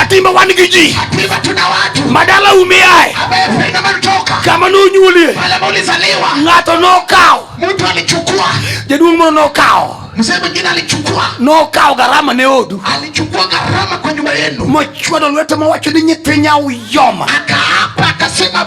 Atimba wan gi ji madala umeaye kama nonyuolie ng'ato nokawo jaduong' moro nokawo Mzee mwingine alichukua no kao gharama ne odu, alichukua gharama kwa nyumba yenu, mochwado lwete mawacho ni nyithinya uyoma, akaapa akasema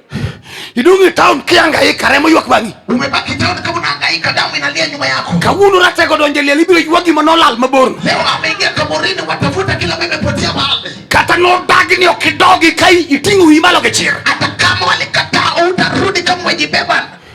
Idung' e town kihangaika, remo ywak bang'i. Umebaki town kama unahangaika, damu inalia nyuma yako. Kawuono ratego donjo e liel, ibiro ywa gima nolal maborno. Leo ameingia kaburini, watafuta kila ambaye imepotea mahali. Kata nodagi ni ok idogi ka iting'o wiyi malo gi chir. Hata kama walikataa, utarudi kama umejibeba.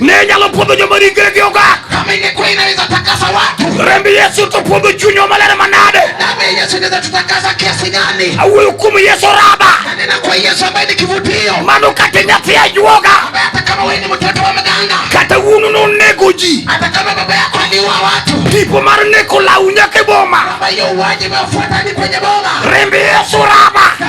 ne nyalo puodho joma ringregi ogak remb yesu to puodho chunywa maler manade awuoyo kuom yesu raba mano kata nyathi ajuoga kata wuonu nonego ji tipo mar neko lawu nyaka e boma remb yesu raba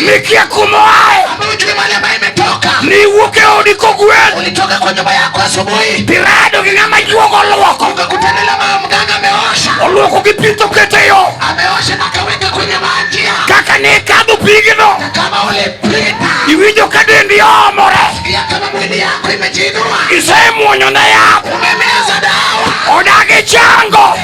Nikia kumoae niwuok e odi kogwen ulitoka kwa nyumba yako asubuhi pirado gi ng'ama juogo olwoko ukakutana na mama mganga ameosha olwoko gi pi tokete yo ameosha na kaweka kwenye maji kaka ne ikadho pigno kama ulipita iwinjo ka dendi omore sikia kama mwili yako imejinua isemwonyo na yath umemeza dawa odagi chango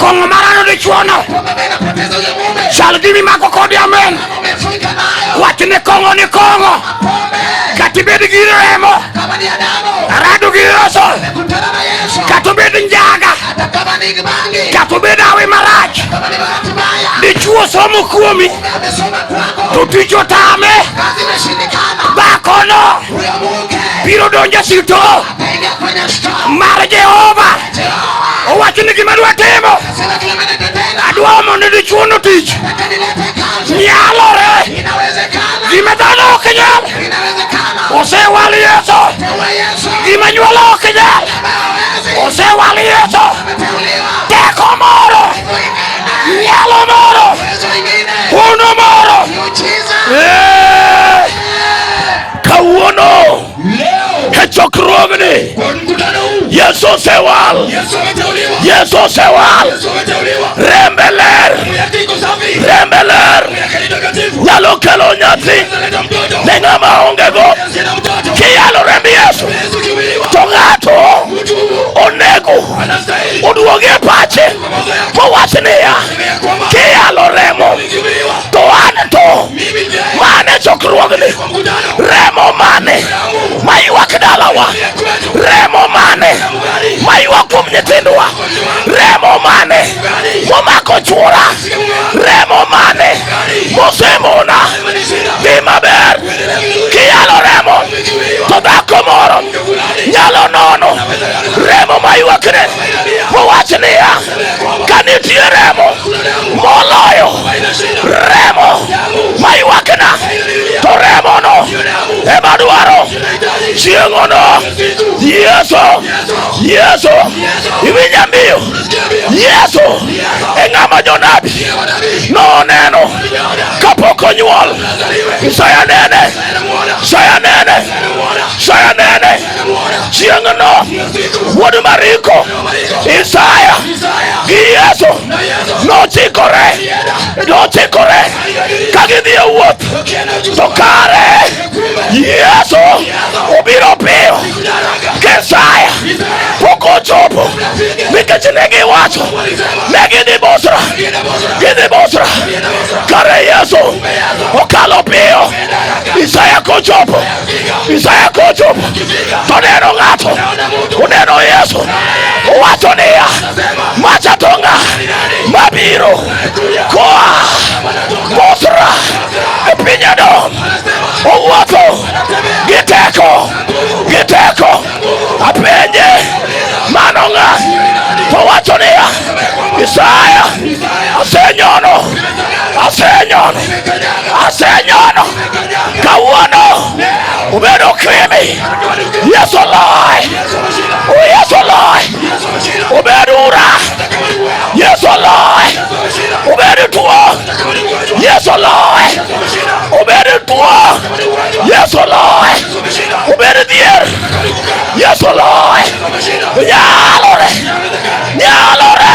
Kongomarano dichuono chal gi mimako kodi amen. Wach ni kongo ni kongo kata ibed gi remo arado gi roso kata obed njaga kata obed awi marach dichuo somo kuomi to tich otame dhakono biro donjo sito mar Jehova. Owacho ni gima dwa timo, adwa mondo dichuono tich nyalore, gima dhano ok nyal osewal Yesu, gima nyuolo ok nyal osewal Yesu, teko moro, nyalo moro, hono moro. Yeah. Kechokruogni Yesu osewal, Yesu osewal, rembe ler, rembe ler nyalo kelo nyathi ne ng'ama ongego. Kiyalo remb Yesu to ng'ato onego oduogi e pache mowach niya, kiyalo remo to an to mane chokruogni remo mane maywak dalawa, remo mane maywak kuom nyithindwa, remo mane momako chwora, remo mane mosemona dhi maber kiyalo remo to dhako moro nyalo nono remo maywakne mowacho niya kanitie remo moloyo remo ma ywakna to remono ema dwaro chieng'ono yeso yeso iwinja mbiyo yeso e ng'ama jonabi noneno kapok onyuol isaya nene isaya nene isaya nene chieng'no wuod Mariko Isaya gi Yesu nochikore nochikore ka gidhi e wuoth to kare Yesu obiro piyo ka Isaya pok ochopo nikech ne giwacho ne gidhi Bosra gidhi Bosra kare Yesu okalo piyo Isaya kochopo Isaya kuchum toneno ng'ato uneno Yesu uwacho niya machatonga mabiro koa Bosra e piny Edom owuotho gi teko gi teko apenje mano ng'a to wacho niya Isaya asenyono asenyono asenyono kawuono ubedo kimi yesu oloy yesu oloy ubed ura yesu oloy ubed tuo yesu oloy ubed tuo yesu oloy ubed dhier yesu oloy nyalore nyalore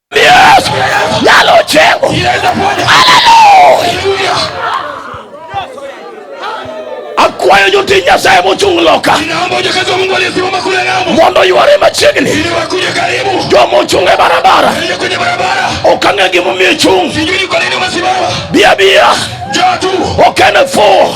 kwayo jotich Nyasaye mochung' loka mondo yware machiegni joma ochung' e barabara ok ang'e gimomiyo ichung' biya biya ok en e fuwo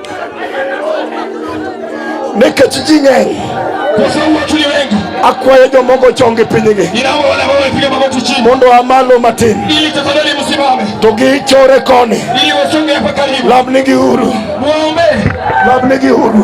nikech ji ng'eny akwayo jomoko ochong gi pinygi mondo a malo matin to gichore koni lamnigi uru lamnigi uru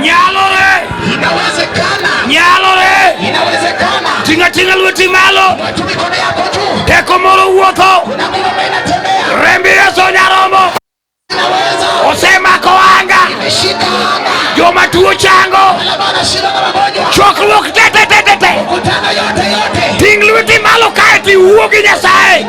Nyalore. Inawezekana. Nyalore. Inawezekana. Tinga tinga lweti malo. Watu mikono yako juu. Teko moro wuotho. Kuna nguvu ambayo inatembea. Rembi Yesu Nyarombo. Inaweza. Osema ko anga. Imeshika anga. Joma tuo chango. Wale ambao wanashinda na magonjwa. Chokruok te te te te te. Mkutano yote yote. Ting' lweti malo kae tiwuo gi Nyasaye.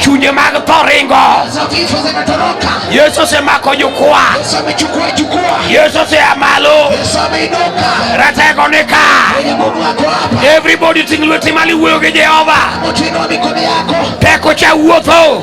chunje mag tho ringo. Yesu osemako jukwaa, Yesu osea malo, ratego ni ka. Everybody ting' lweti malo iwuoyo gi Jehova, teko cha wuotho.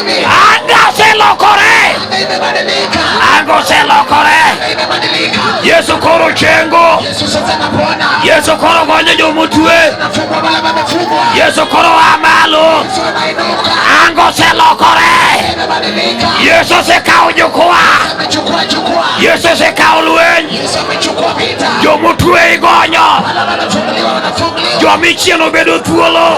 Anga oselokore, anga oselokore. Yesu koro chengo, Yesu koro gonyo jomotue, Yesu koro a malo, anga oselokore. Yesu osekawo jukwaa, Yesu osekawo lweny, jomotue igonyo, jomichieno bedo thuolo.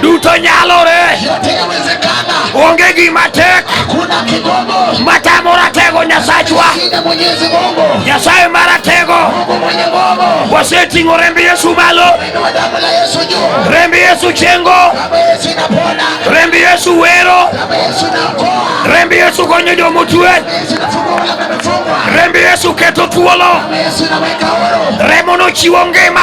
duto nyalore, yote yawezekana, onge gima tek hakuna kigumu, matamo ratego Nyasachwa. shida Mwenyezi Mungu, Nyasaye maratego Mungu mwenye nguvu, waseting'o remb Yesu malo, inua damu la Yesu juu, remb Yesu chengo, damu ya Yesu inapona, remb Yesu wero, damu ya Yesu inaokoa, remb Yesu konyo jomotue, damu ya Yesu inafungua wale wamefungwa, remb Yesu keto thuolo, damu ya Yesu inaweka huru, remono chiwo ngima.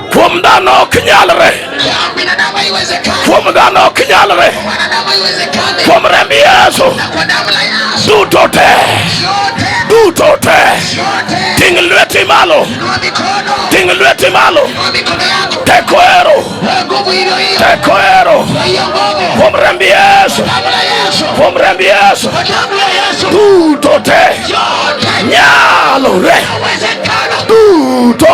Kuom dhano ok nyalre, kuom dhano ok nyalre, kuom remb Yesu duto te duto te. Ting' lweti malo, ting' lweti malo, teko ero, teko ero, kuom remb Yesu, kuom remb Yesu duto te nyalore duto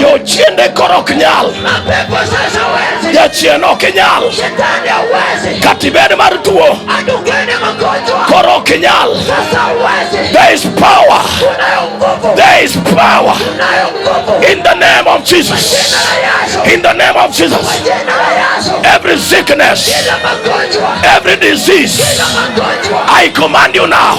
Jochiende koro ok nyal, jachien ok nyal, katibed mar tuo koro ok nyal. There is power, there is power in the name of Jesus, in the name of Jesus. Every sickness, every disease, I command you now.